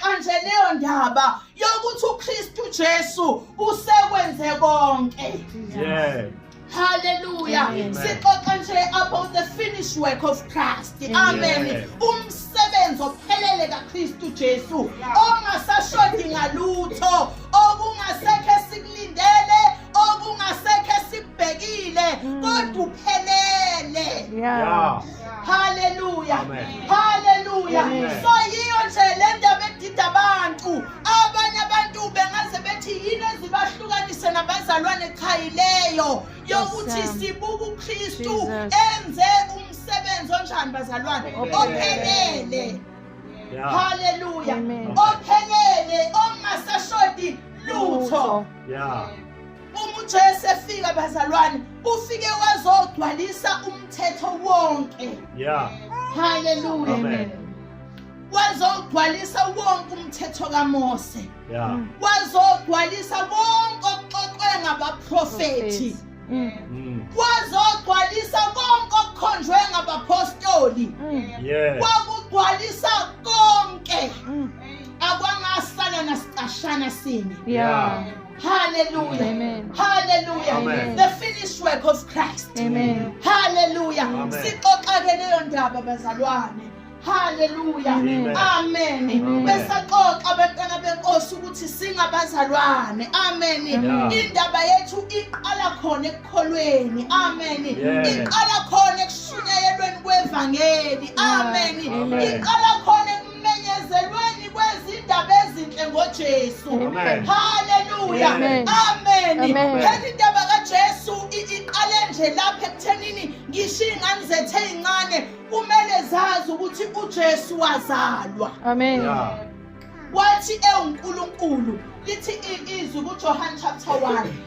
Manje leyo ndaba yokuthi uKristu Jesu usekwenze konke. Yeah. Hallelujah. Amen. Sixoxa nje about the finished work of Christ. Amen. Yeah. Umsebenzi ophelele kaKristu Jesu ongasashodi ngalutho okungasekho esikulindele okungasekho esibhekile mm. kodwa uphelele. Yeah. yeah. haleluya haleluya so yiyo nje le ndaba edida abantu abanye abantu bengaze bethi yini ezibahlukanise nabazalwane cha yileyo yokuthi sibuka ukristu enze umsebenzi onjani bazalwane ophelele haleluya ophelele ongasashodi lutho yeah Uma uJesu efika bazalwane, ufike wazogcwalisa umthetho wonke. Yeah. Hallelujah. Amen. Wazogcwalisa wonke umthetho kaMose. Yeah. Mm. Wazogcwalisa konke okuxoxwe ngabaprofeti. Mm. Mm. Wazogcwalisa konke okukhonjwe ngabapostoli. Yeah. Wakugcwalisa konke. Akwangasala nasicashana sinye. Yeah. Hallelujah. Amen. Hallelujah. Amen. The finished work of Christ. Amen. Hallelujah. Sixoxake leyo ndaba bazalwane. Hallelujah. Amen. Amen. Besaxoxa abantwana benkosi ukuthi singabazalwane. Amen. Indaba yethu iqala khona ekukholweni. Amen. Iqala khona ekushunyayelweni kwevangeli. Amen. Iqala khona Menyezelweni kwezindaba ezinhle ngoJesu. Haleluya. Amen. Phela indaba kaJesu iqale nje lapha ekuthenini ngisho iy'ngane zethu ey'ncane kumele zazi ukuthi uJesu wazalwa. Amen. Yeah. wathi ewuNkulunkulu lithi izwi kuJohane chapter 1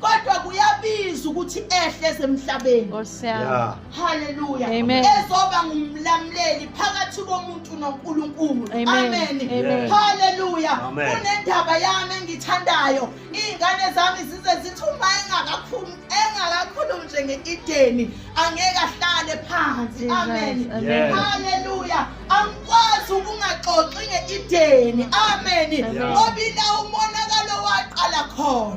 kodwa kuyabiza ukuthi ehle esemhlabeni Nkosi yami. Yeah. haleluya Amen. ezoba ngumlamuleli phakathi komuntu nonkulunkulu Amen. amen Amen. haleluya Amen. kunendaba yami engithandayo iy'ngane zami zize zithi uma engakakhulu- engakakhulumi nje nge-ideni angeke ahlale phansi Jesus. amen Amen. Yeah. haleluya angikwazi ukungaxoxi nge-ideni amen Amen. ngoba ila umonakalo waqala khona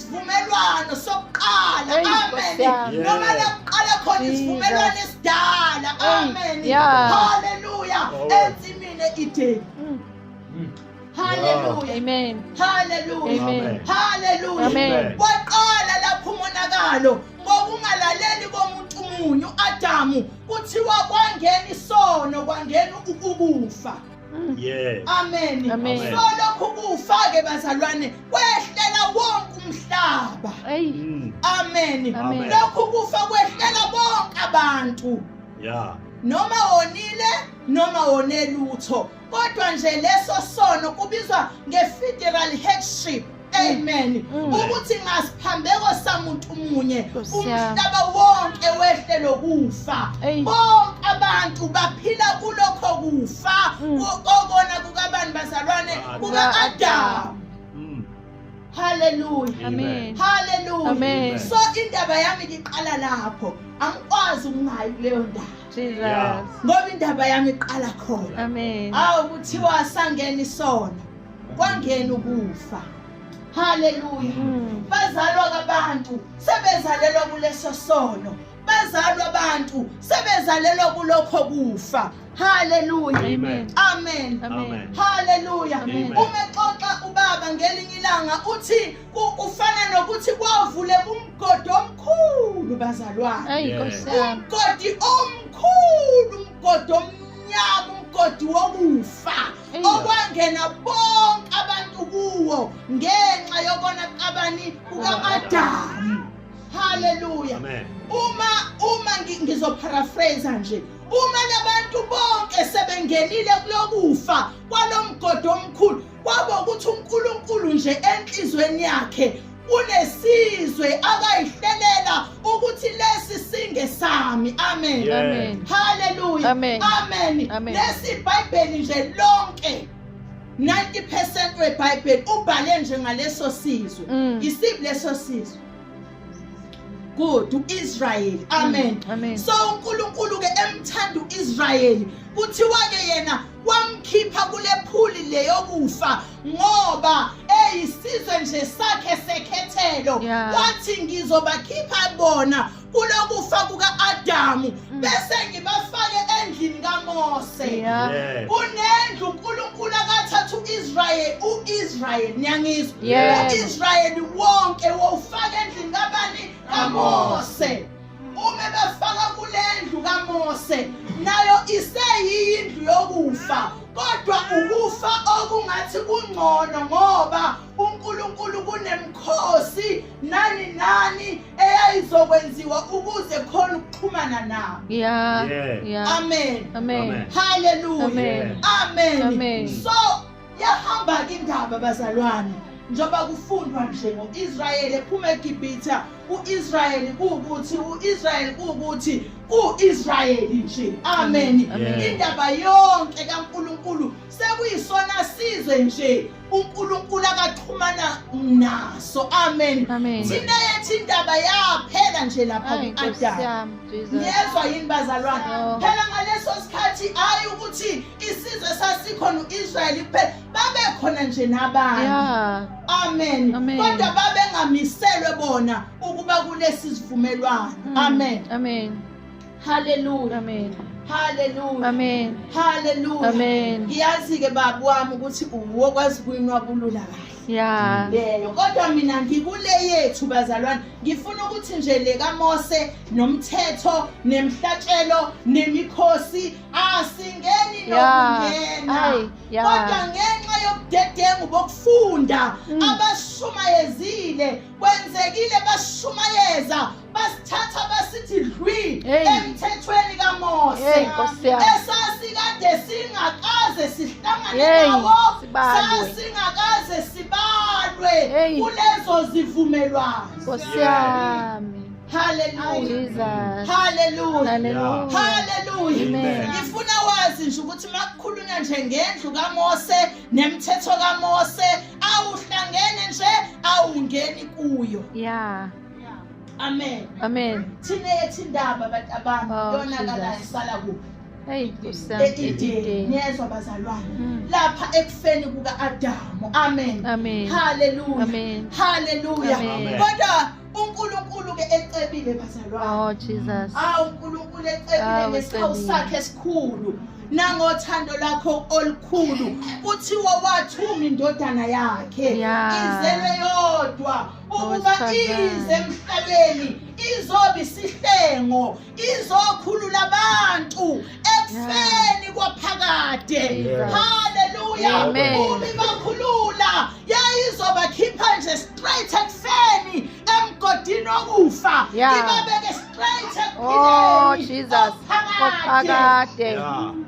isivumelwano sokuqala amen noma lokuqala khona isivumelwano esidala amen haleluya ensimini edeni mm. mm. Hallelujah. Amen. Hallelujah. Amen. Hallelujah. Amen. Waqala lapho umonakalo ngokungalaleli komuntu munyu Adamu kuthiwa kwangena isono kwangena ukufa. Mm. Yes. Amen. Amen. So lokhu kufake bazalwane kwehlela wonke umhlaba. Mm. Amen. Amen. Lokhu kufa kwehlela bonke abantu. Yeah. Noma wonile noma wonelutho kodwa nje leso sono kubizwa nge-federal headship amen mm. ukuthi ngasiphambeko samuntu munye umhlaba wonke wehle lokufa bonke abantu baphila kulokho kufa mm. kokona kukabani bazalwane kuka-adamu mm. haleluya amen haleluya amen so indaba yami ngiqala lapho angikwazi ukungayi kuleyo ndaba ngoba indaba yami iqala khona amen awu kuthiwa sangena isona kwangena ukufa haleluya hmm. bazalwa kabantu sebezalelwa kuleso sono bazalwa abantu sebezalelwa kulokho kufa haleluya amen amen, amen. haleluya umexoxa ubaba ngelinye ilanga uthi kufana nokuthi kwavule umgodi omkhulu bazalwana umgodi omkhulu umgodi omkhulu Nyabu umgodi wokufa okwangena bonke abantu kuwo ngenxa yokona qabani kukaAdamu. Hallelujah. Amen. Uma uma ngizoparaphrase nje uma labantu bonke sebengenile kulokufa kwalomgodi omkhulu kwaba ukuthi uNkulunkulu nje enhlizweni yakhe unesizwe akayihlelela ukuthi lesi singe sami amen amen haleluya amen amen lesi bhayibheli nje lonke 90% webhayibheli ubhale nje ngaleso sizwe mm. isiphi leso sizwe good uIsrael mm, amen, amen. so uNkulunkulu ke emthanda uIsrael kuthiwa ke yena wamkhipha kulephuli leyokufa ngoba eyisizwe nje sakhe sekhethelo wathi ngizobakhipha bona kulokufa kuka-adamu mm. bese ngibafake endlini kaMose kunendlu uNkulunkulu akathatha uIsrael uIsrael niyangizwa uIsrael wonke wofaka endlini kabani kaMose ume befaka kulendlu kaMose nayo iseyindlu yokufa kodwa ukufa okungathi kungcono ngoba uNkulunkulu kunemkhosi nani nani eyayizokwenziwa ukuze khona ukuxhumana nabo yeah yeah, yeah. amen amen haleluya amen amen, amen. so yahamba ke indaba bazalwane njengoba kufundwa nje ngo-israyeli ephuma egibhitha u-israyeli kuwukuthi u-israyeli kuwukuthi u-israyeli nje amen indaba yonke kankulunkulu sekuyisona sizwe nje uNkulunkulu akaxhumana naso amen thina yethi indaba yaphela nje lapha ku-adam niyezwa yini bazalwane oh. phela ngaleso sikhathi hhayi ukuthi isizwe sasikhona u-israyeli kuphela babekhona nje nabanye amen kodwa babengamiselwe bona ukuba kulesi sivumelwano mm. amen Hallelujah. Amen. Hallelujah. Amen. Hallelujah. Amen. Ngiyazi ke baba wami ukuthi uwo kwazi kuyinwa kulula kahle. Yeah. Leyo kodwa mina ngikule yethu bazalwane ngifuna ukuthi nje le kaMose nomthetho nemhlatshelo nemikhosi asingeni nokungena. Kodwa ngenxa yobudedengu bokufunda mm. abashumayezile kwenzekile bashumayeza basithatha basithi dlwi emthethweni kaMose esasikade singakaze sihlangane nawo sasingakaze sibalwe kulezo zivumelwano Nkosi yami Hallelujah. Hallelujah. Hallelujah. Hallelujah. Ngifuna wazi nje ukuthi makukhulunywa nje ngendlu kaMose nemthetho kaMose awuhlangene nje awungeni kuyo. Yeah. amen amen thina yethi indaba abantu abantu oh, yonakalayo sala kuphi ngiyezwa bazalwane hmm. lapha ekufeni kuka-adamu amen haleluya haleluya kodwa uNkulunkulu-ke ecebile bazalwane oh Jesus awu uNkulunkulu ecebile oh, ngesikhawu sakhe esikhulu nangothando lakho olukhulu kuthiwa wathuma indodana yakhe izelwe yodwa ukuba ize emhlabeni izoba isihlengo izokhulula abantu ekufeni kwaphakade haleluya uma ibakhulula yayizobakhipha nje straight ekufeni emgodini okufa ibabeke straight oh, ekuphineni okuphakade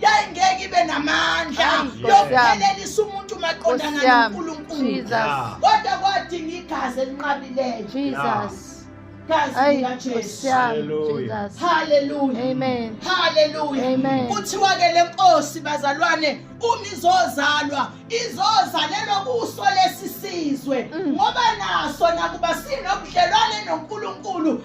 yayingeke ibe namandla yokuphelelisa umuntu maqondana noNkulunkulu kodwa kwadinga igazi elinqabileyo Jesus gazi likaJesu haleluya haleluya amen haleluya amen kuthiwa ke lenkosi bazalwane uma izozalwa izozalelwa kuso lesisizwe mm. ngoba naso nakuba sinobudlelwane noNkulunkulu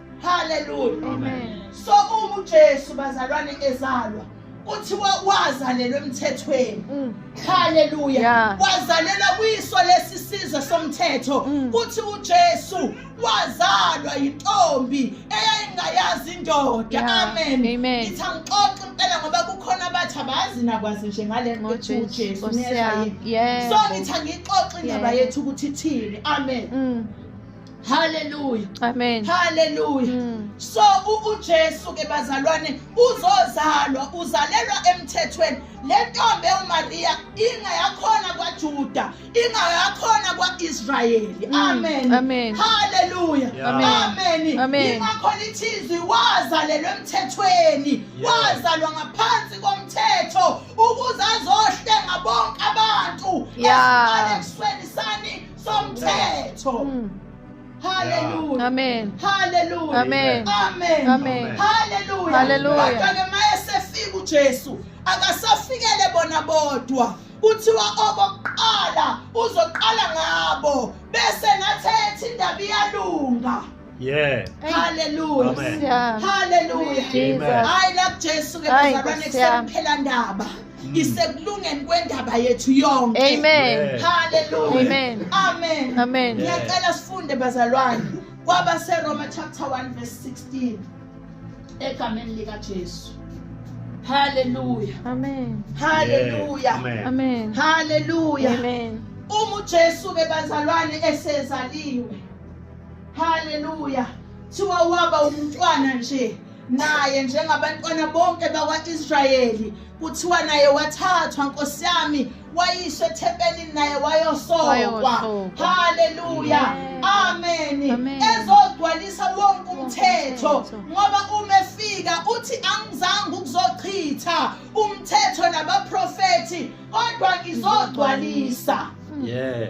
haleluya so uma ujesu bazalwane ezalwa kuthiwa wazalelwa emthethweni mm. haleluya wazalelwa kwiso lesi sizwe somthetho mm. kuthi ujesu wazalwa yintombi eyayingayazi indoda amen ngithi angixoxe impela ngoba kukhona abathi abazi nakwazi nje ngale nto ethi ujesu so ngithi angiyixoxe indaba yethu ukuthi ithini amen mm. haleluya amen haleluya mm. so ujesu ke bazalwane uzozalwa uzalelwa emthethweni le ntombi ewumariya ingayakhona kwajuda ingayakhona kwa-israyeli mm. amen amen haleluya amen amen ingakhona ithizwi wazalelwa emthethweni wazalwa ngaphansi komthetho ukuze azohlenga bonke abantu esibalekisweni sani somthetho mm. Hallelujah. Amen. Hallelujah. Amen. Amen. Amen. Hallelujah. Hallelujah. Kodwa ke mayesefika uJesu akasafikele bona bodwa kuthiwa okokuqala uzoqala ngabo bese nathetha indaba iyalunga Yeah. Hallelujah. Amen. Yeah. Hallelujah. Jesus. Amen. Hayi la Jesu ke Hayi, bazalwane Nkosi yami. kusekuphela ndaba. Isekulungeni kwendaba yethu yonke. Amen. Yeah. Hallelujah. Amen. Amen. Amen. Yeah. Ngiyacela sifunde bazalwane kwaba seRoma chapter 1 verse 16 egameni lika Jesu. Hallelujah. Amen. Hallelujah. Yeah. Amen. Amen. Hallelujah. Amen. Uma uJesu ke bazalwane esezaliwe haleluya thiwa waba umntwana nje naye njengabantwana bonke bakwa-israyeli kuthiwa naye wathathwa nkosi yami wayisho ethempelini naye wayosokwa haleluya ameni ezogcwalisa wonke umthetho ngoba uma efika uthi angizange ukuzochitha umthetho nabaprofethi kodwa ngizogcwalisa yeah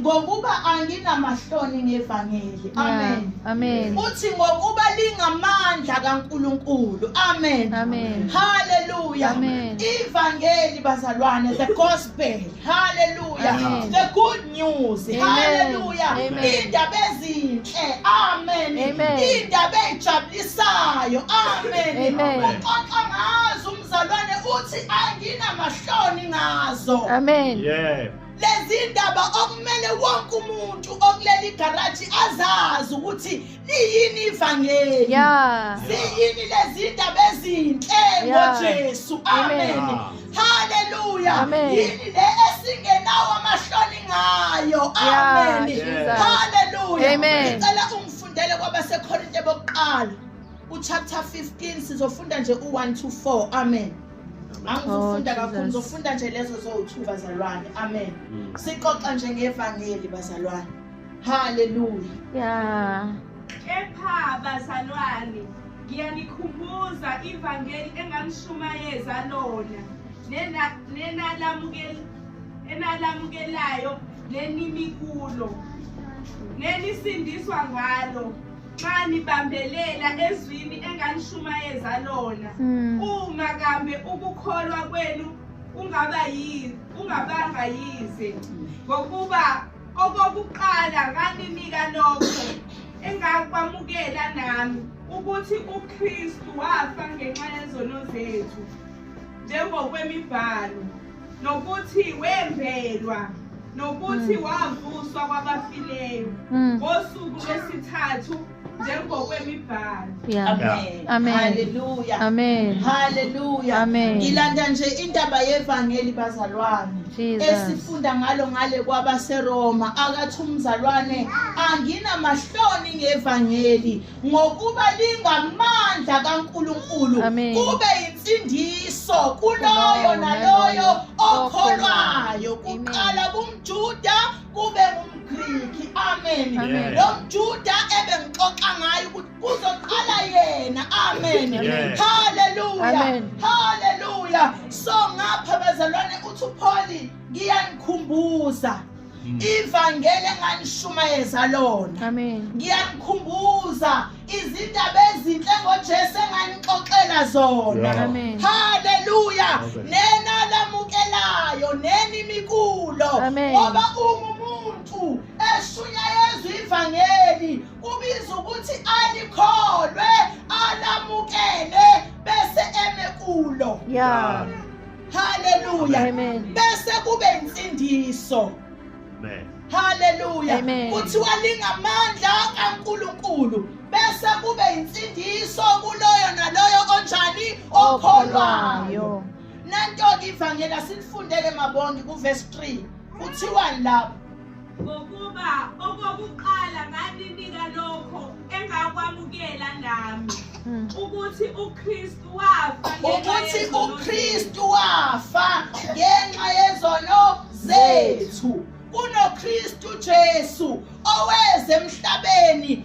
ngokuba anginamahloni ngevangeli amen amen uthi ngokuba lingamandla kaNkuluNkulu amen amen haleluya amen ivangeli bazalwane the gospel haleluya the good news haleluya indaba ezinhle amen indaba ejabulisayo amen uxoxa ngazo umzalwane uthi anginamahloni ngazo amen yeah lezindaba okumele wonke umuntu okuleli garaji azazi ukuthi liyini ivangeli yeah. ziyini lezindaba ezinhle ngojesu yeah. amen, amen. haleluya yini le esingenawo amahloni ngayo amen yeah. haleluya ngicela ungifundele kwabasekhorinte bokuqala uchapter 15 sizofunda nje u-1 to 4 amen angizofunda oh, kakhulu ngizofunda nje lezo zowu-two bazalwane amen mm. sixoxa nje ngevangeli bazalwane haleluya ya kepha bazalwane ngiyanikhumbuza ivangeli enganishumayeza lona nenalamukelayo nenimikulo nenisindiswa ngalo nxa nibambelela ezwini enganishumayeza lona hmm. uma kambe ukukholwa kwenu kungaba yini kungabanga yize ngokuba okokuqala nganinika lokho engakwamukela nami ukuthi uKristu wafa ngenxa yezono zethu njengokwemibhalo nokuthi wembelwa nokuthi mm. wavuswa kwabafileyo mm. ngosuku lwesithathu njengokwemibhalo amen amen haleluya amen haleluya amen ngilanda nje indaba yevangeli bazalwane esifunda ngalo ngale kwabaseroma akathi umzalwane anginamahloni ngevangeli ngokuba lingamandla kaNkulunkulu kube insindiso kuloyo naloyo okholwayo kuqala kumjuda kube ngumgriki amen lo mjuda ebengixoxa ngayo ukuthi kuzoqala yena amen haleluya haleluya so ngapha bazalwane uthi upholi ngiyangikhumbuza Mm. ivangeli enganishumayeza lona ngiyanikhumbuza izindaba ezinhle ngojesu enganixoxela zona haleluya nenalamukelayo nenimikulo ngoba uma umuntu eshunyayezwa ivangeli kubiza ukuthi alikholwe alamukele bese eme kulo yeah. haleluya bese kube insindiso haleluya kuthiwa lingamandla kaNkulunkulu bese kube insindiso kuloyo naloyo onjani okholwayo nanto-ke ivangeli asilifundele mabondi kuvesi 3 kuthiwani lapho Ngokuba okokuqala nganinika lokho engakwamukela nami hmm. ukuthi uKristu wafa ukuthi uKristu wafa ngenxa yezono zethu kunoKristu Jesu oweze emhlabeni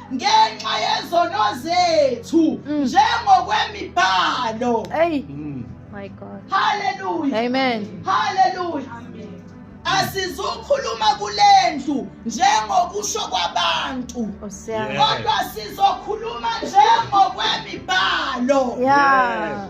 ngenxa yezono zethu mm. njengokwemibhalo hey mm. my god hallelujah amen hallelujah asizukhuluma kulendlu njengokusho kwabantu kodwa sizokhuluma njengokwemibhalo yeah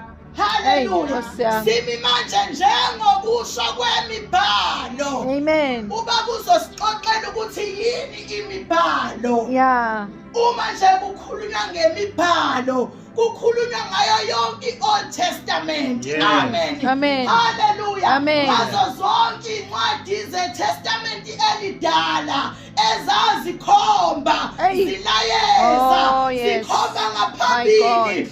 Haleluya. Simi manje njengokusho kwemibhalo. Amen. Uba kuzosixoxela ukuthi yini imibhalo. Yeah. Uma nje kukhulunywa ngemibhalo kukhulunywa ngayo yonke i-old testament yes. amen amen haleluya amen ngazo zonke iy'ncwadi zetestament elidala ezazikhomba zilayeza oh, yes. zikhomba ngaphambili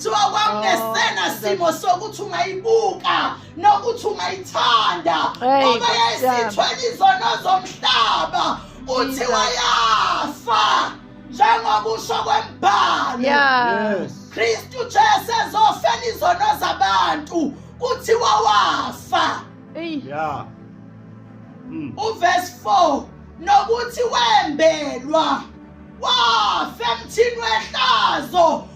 kuthiwa kwakungesena oh, simo sokuthi ungayibuka nokuthi ungayithanda ngoba yayisithwele izono zomhlaba uthi wayafa njengoba usho kwembhalo kristu jesu ezofela izono zabantu kuthiwa wafa yeah. mm. uvesi 4 nokuthi wembelwa wafa emthini wehlazo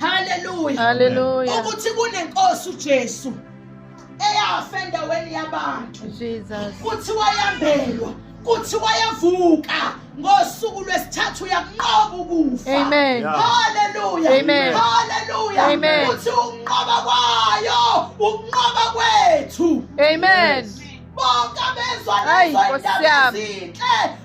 haleluya haleluya ukuthi kunenkosi uJesu eyafa endaweni yabantu Jesus kuthi wayambelwa kuthi wayavuka ngosuku lwesithathu uyakunqoba ukufa amen haleluya amen haleluya amen uthi ukunqoba kwayo ukunqoba kwethu amen bonke abezwa lezo ndaba ezinhle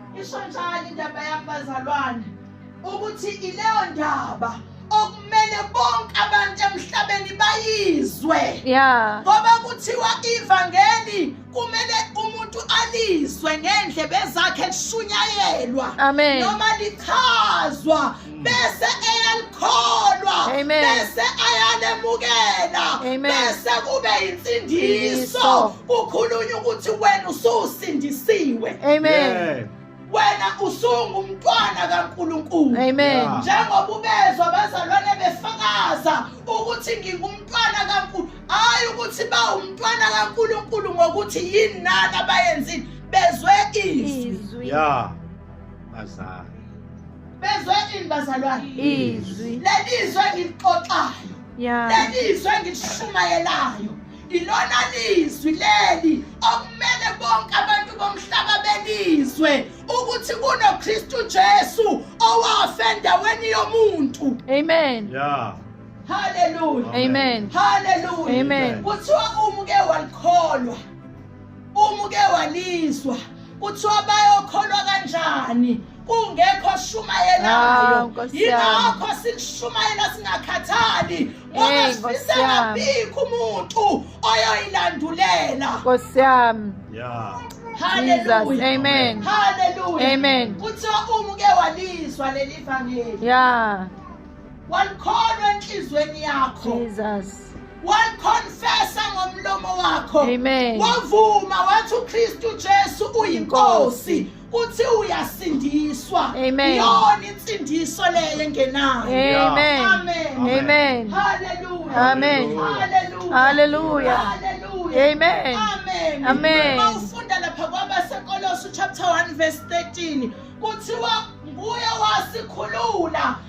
isho njalo indaba yami bazalwane ukuthi ileyo ndaba okumele bonke abantu emhlabeni bayizwe yeah ngoba kuthiwa ivangeli kumele umuntu alizwe ngendlebe zakhe kushunyayelwa amen noma lichazwa bese eyalikholwa bese ayalemukela bese kube insindiso kukhulunywa ukuthi wena ususindisiwe amen yeah. wena usungumntwana kaNkuluNkulu amen njengoba ubezwa abazalwane befakaza ukuthi ngingumntwana kaNkulu hayi ukuthi bawumntwana kaNkuluNkulu ngokuthi yini nani abayenzile bezwe izwi yeah bazali bezwe ini bazalwane izwi lelizwe engilixoxayo yeah. lelizwe engilishumayelayo ilona lizwi leli okumele bonke abantu bomhlaba belizwe ukuthi kunoKristu Jesu owafa endaweni yomuntu amen yeah haleluya amen haleluya amen kuthiwa umuke walikholwa Uma uke walizwa kuthiwa bayokholwa kanjani kungekho shumayelayo ah, yingakho silishumayela singakhathali ngoba sifise ngabikho umuntu oyoyilandulela nkosi yami yeah Hallelujah. Amen. Hallelujah. Amen. Kuthiwa umuke walizwa leli vangeli. Yeah. walikholwa enhlizweni yakho Jesus waliconfessa ngomlomo wakho Amen wavuma wathi uKristu Jesu uyinkosi uthi uyasindiswa Amen yona insindiso leyo engenayo Amen Amen Amen Hallelujah Amen Hallelujah Hallelujah Amen Amen Amen Awufunda lapha kwabaseKolose chapter 1 verse 13 kuthiwa nguye wasikhulula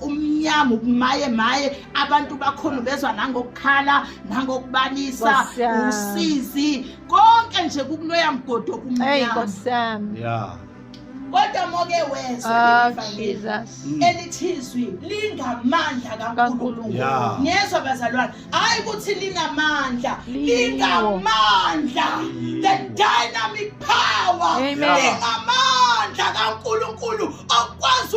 kumnyama ukumaye maye abantu bakhona bezwa nangokukhala nangokubalisa usizi konke nje kukuloya mgodo kumnyama yeah kodwa moke wezwa ah, mm. elithizwi lingamandla kaNkulunkulu ngezwa bazalwane hayi ukuthi linamandla lingamandla the dynamic power lingamandla kaNkulunkulu okwazi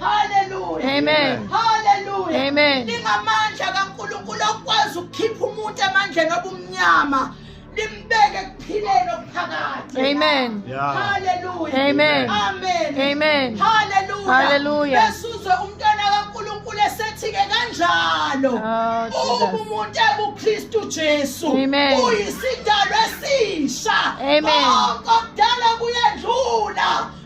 Hallelujah. Amen. Hallelujah. Amen. Lingamandla kaNkulunkulu okwazi ukukhipha umuntu emandleni obumnyama. limbeke ekuphileni okuphakathi amen haleluya amen amen amen haleluya haleluya besuzwe umntwana kaNkuluNkulu esethi-ke kanjalo oh, uma umuntu ekuKristu Jesu uyisidalwa esisha konke okudala kuyendlula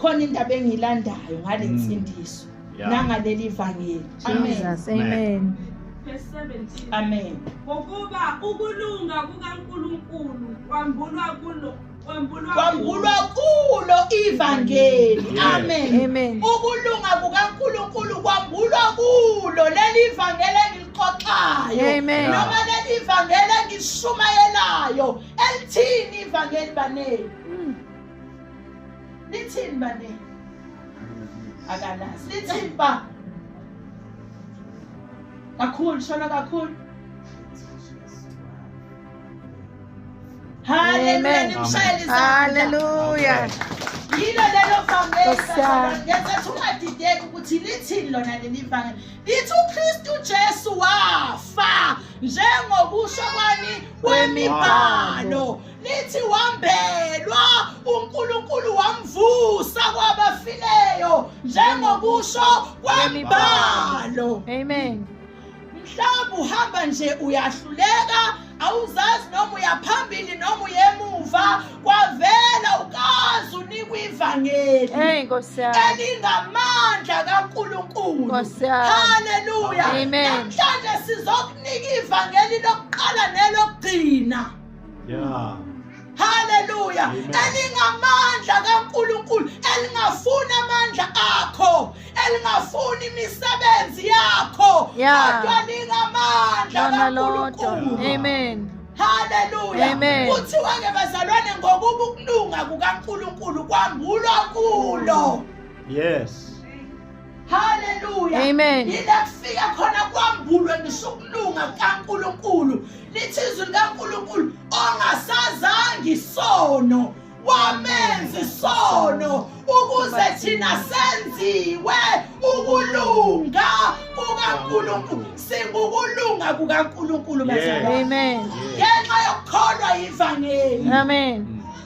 khona indaba engiyilandayo ngale Mm. nsindiso Yeah. nangaleli vangeli amen Jesus, amen. Verse 17. amen ngokuba ukulunga kukaNkulunkulu kwambulwa kulo kwambulwa kwambulwa kulo ivangeli Yes. amen Amen. ukulunga kukaNkulunkulu kwambulwa kulo leli vangeli engilixoxayo Amen. noma leli vangeli engishumayelayo elithini ivangeli baneni Lithini bani? Akalazi. Lithini ba? Kakhulu shona kakhulu. Hallelujah. Nimshayele izandla. Hallelujah. yilo lelo vangeliaethu ungadideki ukuthi lithini lona leli vangeli lithi ukristu jesu wafa njengokusho kwani kwemibhalo lithi wambelwa uNkulunkulu wamvusa kwabafileyo njengokusho kwembalo amen mhlawumbe uhamba nje uyahluleka awuzazi noma uyaphambili noma uyemuva kwavela ukazi unikwa ivangeli elingamandla kankulunkulu haleluya namhlanje sizokunika ivangeli lokuqala nelokugcina yeah haleluya elingamandla kaNkuluNkulu elingafuni amandla akho elingafuni imisebenzi yakho kodwa lingamandla kaNkuluNkulu amen haleluya kuthiwa ke bazalwane ngokuba ukulunga kukaNkuluNkulu kwambulwa kulo yes Hallelujah. Amen. Ngilafika khona kwambulwe ngisukulunga kaNkuluNkulu. Lithi izwi likaNkuluNkulu ongasazangi isono wamenza isono ukuze thina senziwe ukulunga kukaNkuluNkulu singukulunga kukaNkuluNkulu bazalwane. Amen. Ngenxa yokukholwa ivangeli. Amen.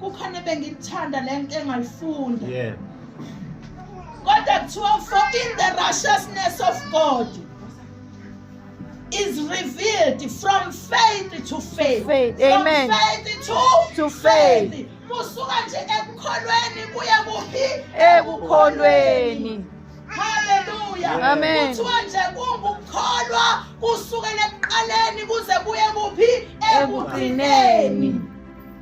kukhona bengikuthanda le nto engayifunda yeah. kodwa kuthiwa for in the righteousness of god is revealed from faith to faith, faith. From Amen. faith to, to faith, faith. musuka nje ekukholweni kuye kuphi ekukholweni haleluya amen kuthiwa nje kungukukholwa kusukela ekuqaleni kuze kuye kuphi ekugcineni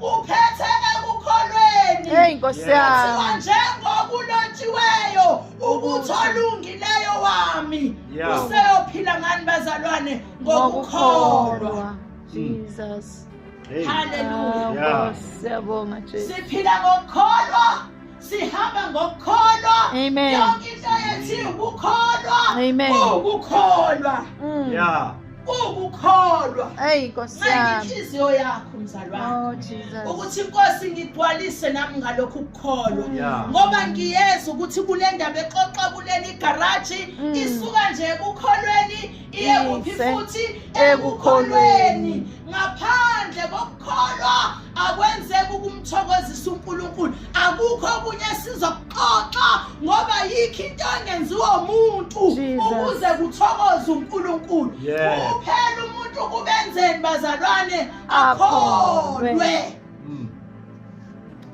uphethe ekukholweni hey nkosi yami njengokulotshiweyo ukuthi olungileyo wami useyophila ngani bazalwane ngokukholwa jesus haleluya siyabonga jesus siphila ngokukholwa sihamba ngokukholwa Amen. yonke into yethi ukukholwa Amen. ukukholwa Mm. Yeah. ukukholwa Eyi Nkosi nxa yami. inhliziyo yakho mzalwane Oh Jesus. ukuthi inkosi ngigcwalise nami ngalokhu ukukholwa Yeah. ngoba ngiyeza ukuthi kule ndaba exoxa kuleli garaji Mm. isuka nje ekukholweni iye kuphi Ise futhi ekukholweni. ekukholweni ngaphandle koku kholwa akwenzeki ukumthokozisa uNkulunkulu akukho okunye esizokuxoxa ngoba yikho into engenziwa umuntu ukuze kuthokoze uNkulunkulu kuphela umuntu kubenzeni bazalwane akholwe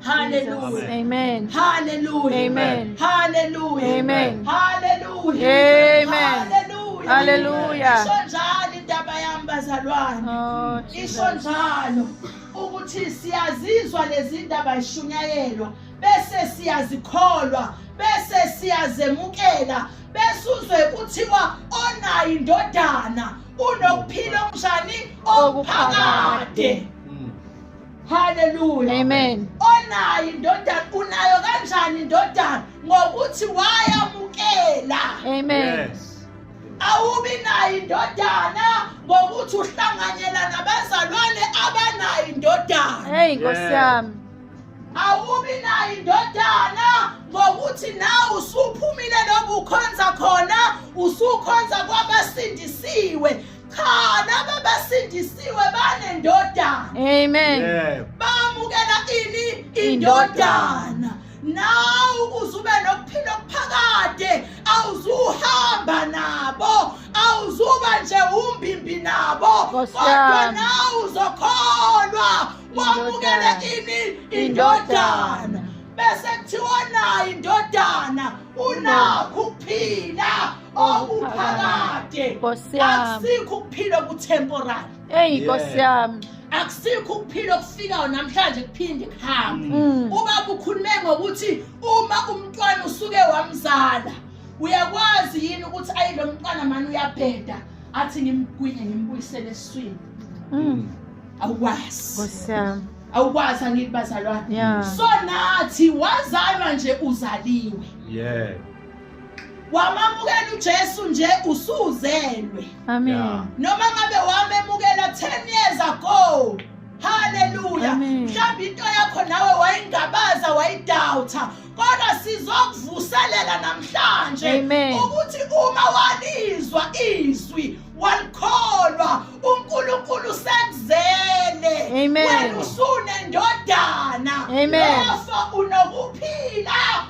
Hallelujah. Amen. Hallelujah. Amen. Hallelujah. Amen. Hallelujah. Amen. Hallelujah. Hallelujah. Isho njalo indaba yami bazalwane. Oh, Isho njalo ukuthi siyazizwa lezi ndaba ishunyayelwa bese siyazikholwa bese siyazemukela bese uzwe kuthiwa onayo indodana unokuphila okunjani okuphakade. haleluya amen onayo indodana unayo kanjani indodana ngokuthi wayamukela amen yes. awubi nayo indodana ngokuthi uhlanganyela nabazalwane abanayo indodana hey nkosi yami awubi nayo indodana ngokuthi nawe usuphumile lokukhonza khona usukhonza kwabasindisiwe cha laba basindisiwe banendodana amen yeah. bamukela ini indodana nawe ukuze ube nokuphila okuphakade awuzuhamba nabo awuzuba nje umbimbi nabo kodwa nawe uzokholwa wamukele ini indodana bese kuthiwa nayo indodana unakho ukuphila okuphakade Nkosi yami. akusikho ukuphila okutemporary Eyi Yeah. Nkosi yami. akusikho ukuphila okufikayo namhlanje kuphinde kuhambe Mm. ubaba ukhulume ngokuthi uma umntwana usuke wamzala uyakwazi yini ukuthi ayi lo mntwana mani uyabheda athi ngimgwinye ngimbuyisele eswini Mm. awukwazi Nkosi yami. awukwazi angithi bazalwane Yeah. so nathi wazalwa nje uzaliwe Yeah. wamamukela uJesu nje usuzelwe amen yeah. noma ngabe wamemukela 10 years ago haleluya mhlawumbe into yakho nawe wayingabaza wayidawutha kodwa sizokuvuselela namhlanje ukuthi uma walizwa izwi walikholwa uNkulunkulu sekuzele wena usunendodana lofo unokuphila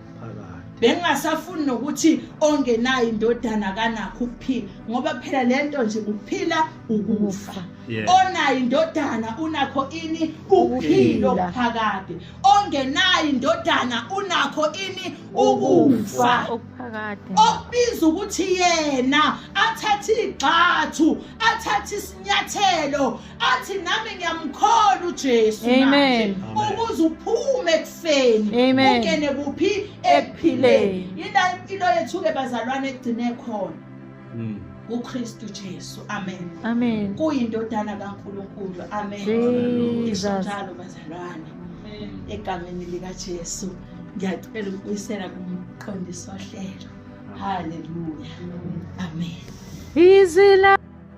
bengingasafuni nokuthi ongenayo indodana kanakho ukuphila ngoba phela le nto nje ukuphila ukufa onayo indodana unakho ini ukuphilo phakade ongenayo indodana unakho ini ukufa okubiza ukuthi yena athathe igxathu athathe isinyathelo athi nami ngiyamkhola uJesu Amen. manje ukuze uphume ekufeni Amen. ungene kuphi ekuphileni yila impilo yethu ke bazalwane egcine khona Mm. uKristu Jesu amen Amen. kuyindodana kaNkulunkulu amen Jesus. Ngisho njalo bazalwane egameni likaJesu ngiyacela ukubuyisela kumqondisi wohlelo haleluya amen Izwi la